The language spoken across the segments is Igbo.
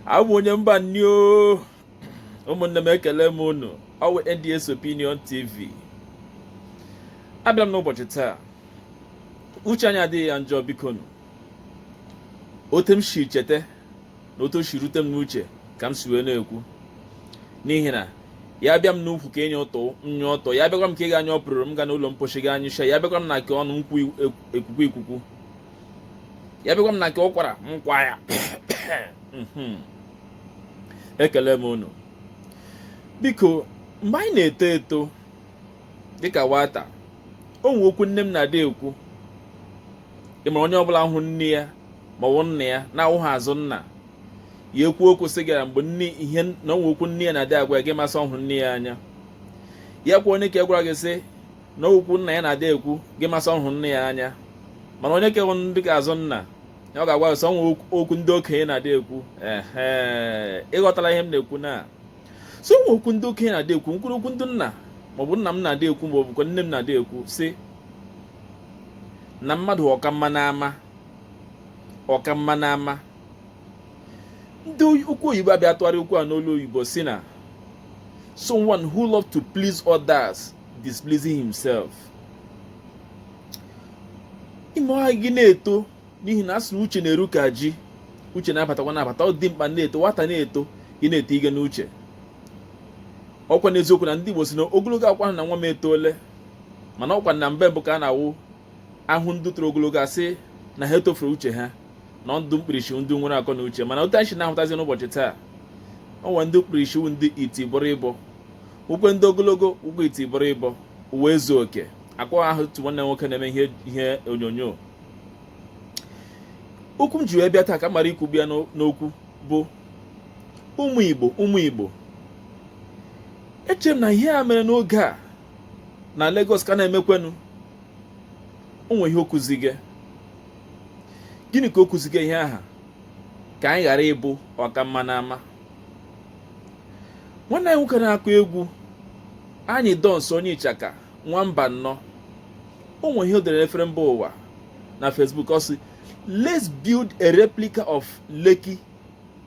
abụ m onye mba nni o ụmụnne m ekele m unu ọwụ NDS Opinion TV abịa m n'ụbọchị taa uche anyị adịghị ya njọ biko nụ otu m si chete na otu o si rute m n'uche ka m si wee na-ekwu n'ihi na ya bịa m n'ukwu ka enye ụtọ nye ụtọ ya bịakwa m ka ị ga anyụ ọpụrụrụ m ga n'ụlọ mposi ga anyụcha ya bịakwa m na nke ọnụ m kwuo ekwukwu ekwukwu ya bịakwa m na nke ụkwara m kwa ya mhm. ekele m unu biko mgbe anyị na-eto eto dịka nwata o nwe okwu nne m na-adị ekwu ị mara onye ọbụla hụ nne ya ma ọ bụ nna ya na-awụghị azụ nna ya ekwu okwu sị gara mgbe nne ihe na o nwe okwu nne ya na-adị agwa gị ma sị ọ hụ nne ya anya ya kwa onye ke gwara gị sị na okwu nna ya na-adị ekwu gị ma sị ọ hụ nna ya anya mana onye ke wụ ndị ke azụ nna ya ọ ga-agwa sị o nwe okwu ndị okenye na-adị ekwu ehe ịghọtara ihe m na-ekwu na sị o nwe okwu ndị okenye na-adị ekwu mkpụrụ okwu ndị nna maọbụ nna m na-adị ekwu maọbụ kwa nne m na-adị ekwu sị na mmadụ ọka mma n'ama ọka mma n'ama ndị okwu oyibo abịa tụgharịa okwu a n'olu oyibo sị na someone who love to please others displeasing himself ime ọha gị na-eto n'ihi na a sị na uche na-eru ka ji uche na-abatakwa na-abata o dimkpa na-eto nwata na-eto gị na-eto ige n'uche ọ wụkwanụ eziokwu na ndị Igbo sị na ogologo awụghịkwanụ na nwa m etole mana ọ wụkwanụ na mgbe mbụ ka a na-awụ a hụ ndị toro ogologo a sị na ha etofuru uche ha na ndị mkpirisi ndị nwere akọ na uche mana otu anyị si na-ahụtazi n'ụbọchị taa o nwere ndị mkpirisi wụ ndị iti bọrịbọ nwekwee ndị ogologo wụkwa iti bọrịbọ ụwa ezu oke ọkwa aha otu nwanne nwoke na-eme ihe onyonyo okwu m ji wee bịa taa ka m mara ikwu bịa n'okwu bụ ụmụ Igbo ụmụ Igbo eche m na ihe a mere n'oge a na Lagos ka na-emekwenụ o nwe ihe o kuzi gị gịnị ka o kuzi gị ihe aha ka anyị ghara ịbụ ọka mma n'ama nwanne anyị nwoke na-akụ egwu Anyidons onye Ịchaka nwa Mbanọ o nwe ihe o dere n'efere mba ụwa na Facebook ọ sị let's build a replica of Lekki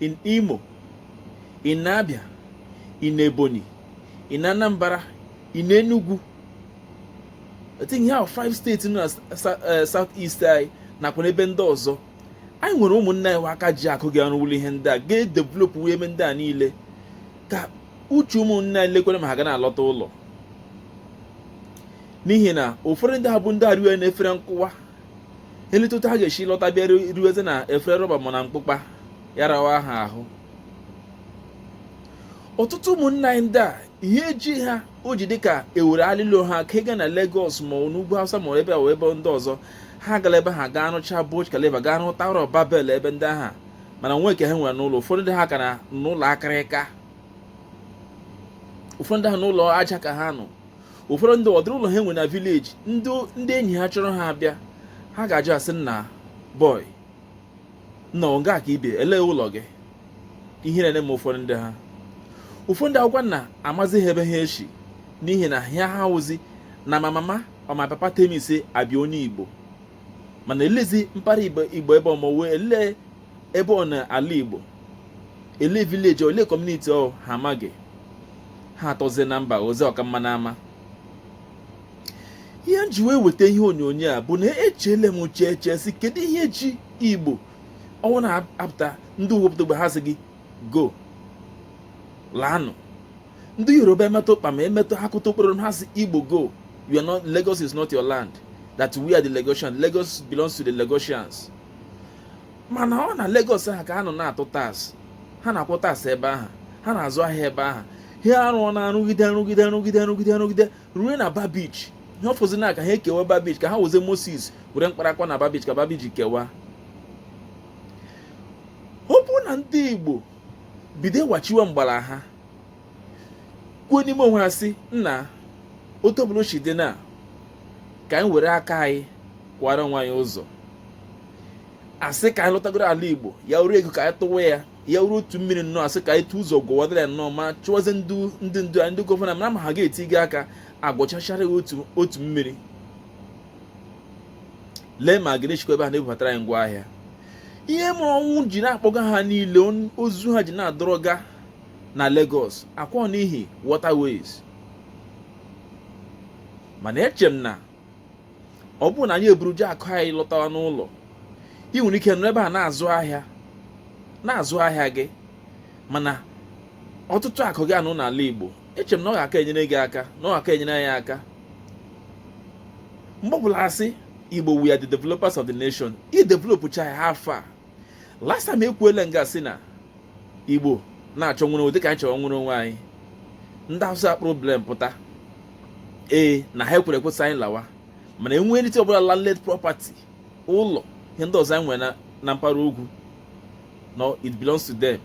in Imo, in Abia, in Ebonyi, in Anambra, in Enugu. I think there are five states in the eh, southeast anyị nakwa n'ebe ndị ọzọ anyị nwere ụmụnne anyị aka ji akụ ga-arụwụlụ ihe ndị a ga-edevelop wee eme ndị a niile ka uche ụmụnne anyị lekwere ma ha ga na-alọta ụlọ n'ihi na ụfọdụ ndị ha bụ ndị arịa na efere nkụwa eleta otu ha ga-esi lọta bịa riwezi na efere rọba ma na mkpụkpa ya rawa ha ahụ ọtụtụ ụmụnna anyị ndị a ihe eji ha o ji dịka ewere alilo ha ka ịga na Lagos ma ọ n'ugwu Hausa ma ebe ọ ebe ndị ọzọ ha gara ebe ha gaa rụcha Burj Khalifa gaa rụta Tower of Babel ebe ndị aha mana nwee nke ha nwere n'ụlọ ụfọdụ ndị ha ka nọ n'ụlọ akịrịka ụfọdụ ndị ha n'ụlọ aja ka ha nọ ụfọdụ ndị ọdịrị ụlọ ha nwere na vileji ndị enyi ha chọrọ ha abịa ha ga-ajụ asị nna bọị nna ọ nga a ka i bi elee ụlọ gị ihe na-eme ụfọdụ ndị ha ụfọdụ ndị akwụkwọ na amazi ha ebe ha esi n'ihi na ihe ha wụzi na my mama or my papa tell me say I be onye igbo mana elezi mpara igbo ebe ọmọwe elee ebe ọ na ala igbo ele vileji ole kọmuniti ọ ha amaghị ha atọzie na mba ọzọ ọkamma na ama ihe m ji wee weta ihe onyonyo a bụ na echele m uche eche si kedu ihe ji igbo ọnwụ na-apụta ndị ugwu apụta ogbe ha sị igbo laanụ ndị yoruba emetụ ụkpa ma emetụ ha kụta okporo ha sị igbo go you are not lagos is not your land that we are the lagosians lagos belongs to the lagosians mana ọ na Lagos ahụ ka ha nọ na-atụ tax ha na-akwụ tax ebe ahụ ha na-azụ ahịa ebe ahụ ha arụọ na rụgide rụgide rụgide rụgide rụgide ruo na Bar Beach ihe ọ fọzi na ka ha ekewa Bar Beach ka ha wụzi Moses were mkpara kụwa na Bar Beach ka Bar Beach kewa ọ bụrụ na ndị Igbo bido wachiwe mgbala ha kwuo n'ime onwe ha si nna otu ọbụla o si dị na ka anyị were aka anyị kwara onwe anyị ụzọ asị ka anyị lọtagoro ala igbo ya wụrụ ego ka anyị tụwa ya ya wụrụ otu mmiri nnọọ asị ka anyị tụ ụzọ gwuwadara ya nnọọ ma chụwazi ndị ndị ndu anyị ndị gọvanọ mara ma ha ga-etinye aka gwuchachara ya otu otu mmiri lee ma ga-echekwa ebe ha na-ebubatara anyị ngwa ahịa ihe mere ọnwụ ji na-akpọga ha niile ozu ha ji na-adọrọga na Lagos ọ kwa n'ihi waterways mana eche m na ọ bụrụ na anyị eburuje akụ anyị lọtawa n'ụlọ ị nwere ike nọ ebe a na-azụ ahịa na-azụ ahịa gị mana ọtụtụ akụ gị anọ n'ala Igbo eche m na ọ ga-aka enyere gị aka na ọ ga-aka enyere anyị aka mgbe ọbụla asị Igbo we are the developers of the nation i developụcha ya ha afọ a last time ekwuele nga si na igbo na-achọ nwere onwe dịka anyị chọrọ nwere onwe anyị ndị hausa problem pụta ee na ha ekwere ekwe sị anyị lawa mana anything ọbụla landed property ụlọ ihe ndị ọzọ anyị nwere na mpaghara ugwu no it belongs to them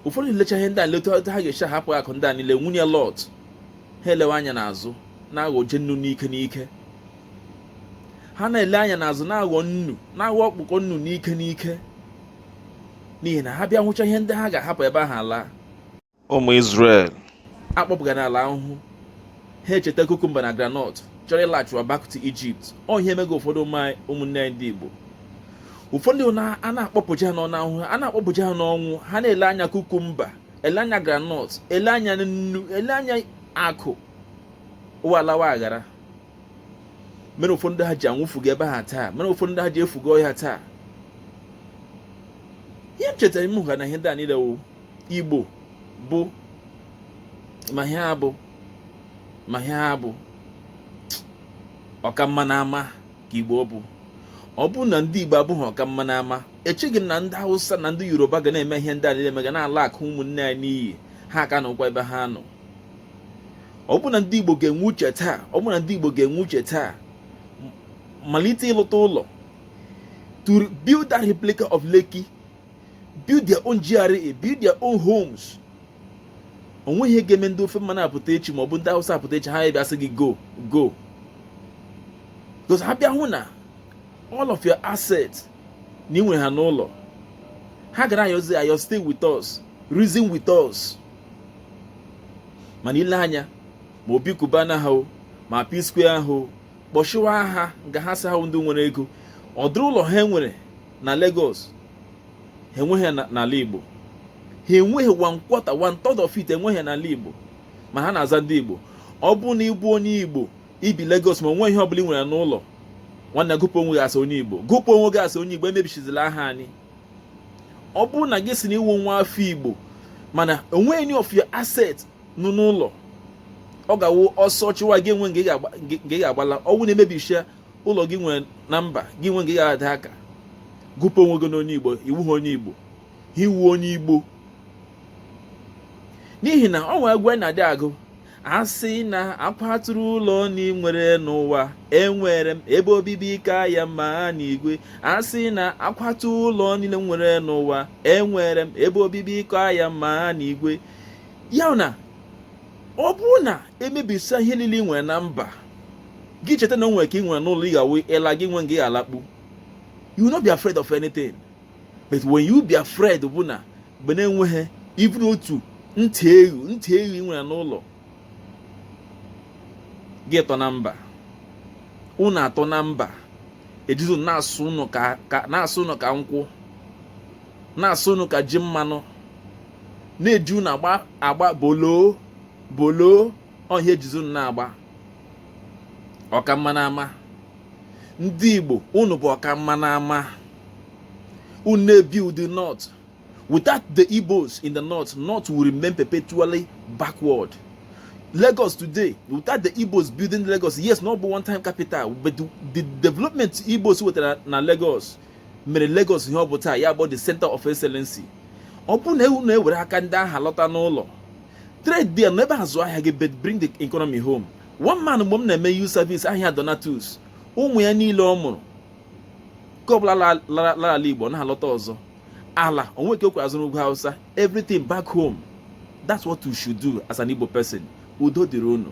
ụfọdụ lecha ihe ndị a leta ha ga-eche hapụ akụ ndị a niile nwunye lọt ha elewe anya n'azụ na-aghọje nnu n'ike n'ike ha na-ele anya n'azụ na-aghọ nnu na-aghọ ọkpụkọ nnu n'ike n'ike n'ihi na ha bịa hụcha ihe ndị ha ga-ahapụ ebe ahụ ala ụmụ Izrel akpọpụga n'ala ahụhụ ha echeta kukumba na granọt chọrọ ịlaghachiwa back to Egypt ọ ihe emego ụfọdụ ụmụ anyị ụmụnne anyị ndị Igbo ụfọdụ a na-akpọpụja ha n'ọnụ ahụhụ a na-akpọpụja ha n'ọnwụ ha na-ele anya kukumba ele anya granọt ele anya nnu ele anya akụ ụwa alawa aghara mere ụfọdụ ndị ha ji anwụfuga ebe ahụ taa mere ụfọdụ ndị ha ji efuga ọhịa taa ihe m chetara m hụga na ihe ndị a niile wụ igbo bụ ma ihe ha bụ ma ihe ha bụ ọkamma n'ama ka igbo bụ ọ bụ na ndị igbo abụghị ọkamma n'ama echeghị m na ndị hausa na ndị yoruba ga na-eme ihe ndị a niile mega na-ala akụ ụmụnne anyị n'iyi ha ka nọkwa ebe ha nọ ọ bụrụ na ndị Igbo ga-enwe uche taa malite ịlụta ụlọ to build that replica of Lekki build their own GRA build their own homes onweghị ihe ga-eme ndị ofe mmanụ apụta echi ma ọ bụ ndị Hausa apụta echi ha bịa sị gị go go because ha bịa hụ na all of your assets na ị nwere ha n'ụlọ ha ga na-ayọzi ayọ stay with us reason with us mana i lee anya ma Obi Cubana ha ma P-Square ahụ kpọshiwa aha nga ha sị ha wụ ndị nwere ego ụdịrị ụlọ ha nwere na Lagos ha enweghị n'ala Igbo ha enweghị one quarter of it enweghị n'ala Igbo mana ha na-aza ndị Igbo ọ bụrụ na ị bụ onye Igbo i bi Lagos ma onweghị ihe ọbụla ị nwere n'ụlọ nwanne gụpụ onwe gị as onye Igbo gụpụ onwe gị as onye Igbo emebishizila aha anyị ọ bụrụ na gị sị na ị wụ nwa afọ igbo mana onweghị any of your asset nọ n'ụlọ ọ ga-awụ ọsọ chụwa gị enwe nga ị ga-agbala ọ wụ na emebishia ụlọ gị nwere na mba gị nwe nga ị ga-ada aka gụpụ onwe gị n'onye igbo ị wụha onye igbo ha ị wụ onye igbo n'ihi na o nwere egwu a na-adị agụ a sị na akwaturu ụlọ m nwere n'ụwa enwere m ebe obibi ka ya mma n'igwe a sị na akwaturu ụlọ niile m nwere n'ụwa enwere m ebe obibi ka ya mma n'igwe ya wụ na ọ bụrụ na emebisa ihe niile ị nwere na mba gị cheta na o nwere nke ị nwere n'ụlọ ọ ga-awụ ị la gị nwe nga ị ga-alakpu you no be afraid of anything but when you be afraid bụ na mgbe na-enweghị iburu otu ntị eghu ntị eghu ị nwere n'ụlọ gị tọ na mba unu atọ na mba ejizi unu na-asụ unu ka nkwụ na-asụ unu ka ji mmanụ na-eji unu agba bọọlụ bọọlụ ọhịa ejizi unu na-agba ọka mma n'ama ndị Igbo unu bụ ọka mma n'ama unu na-ebuild the north Without the Igbos in the north, north will remain perpetually backward. Lagos today, without the Igbos building Lagos, yes, na ọ bụ one time capital, but the development Igbos wetara na Lagos mere Lagos ihe ọ bụ taa ya bụ the center of excellency. Ọ bụrụ na unu ewere aka ndị ahụ lọta n'ụlọ trade there nọ ebe ahụ zụọ ahịa gị but bring the economy home. One man mgbe m na-eme youth service aha ya Donatus ụmụ ya niile ọ mụrụ nke ọbụla lara ala igbo na-alọta ọzọ ala o nwe ka okwe azụrụ ugwu hausa everything back home that's what you should do as an igbo person udo dịrị unu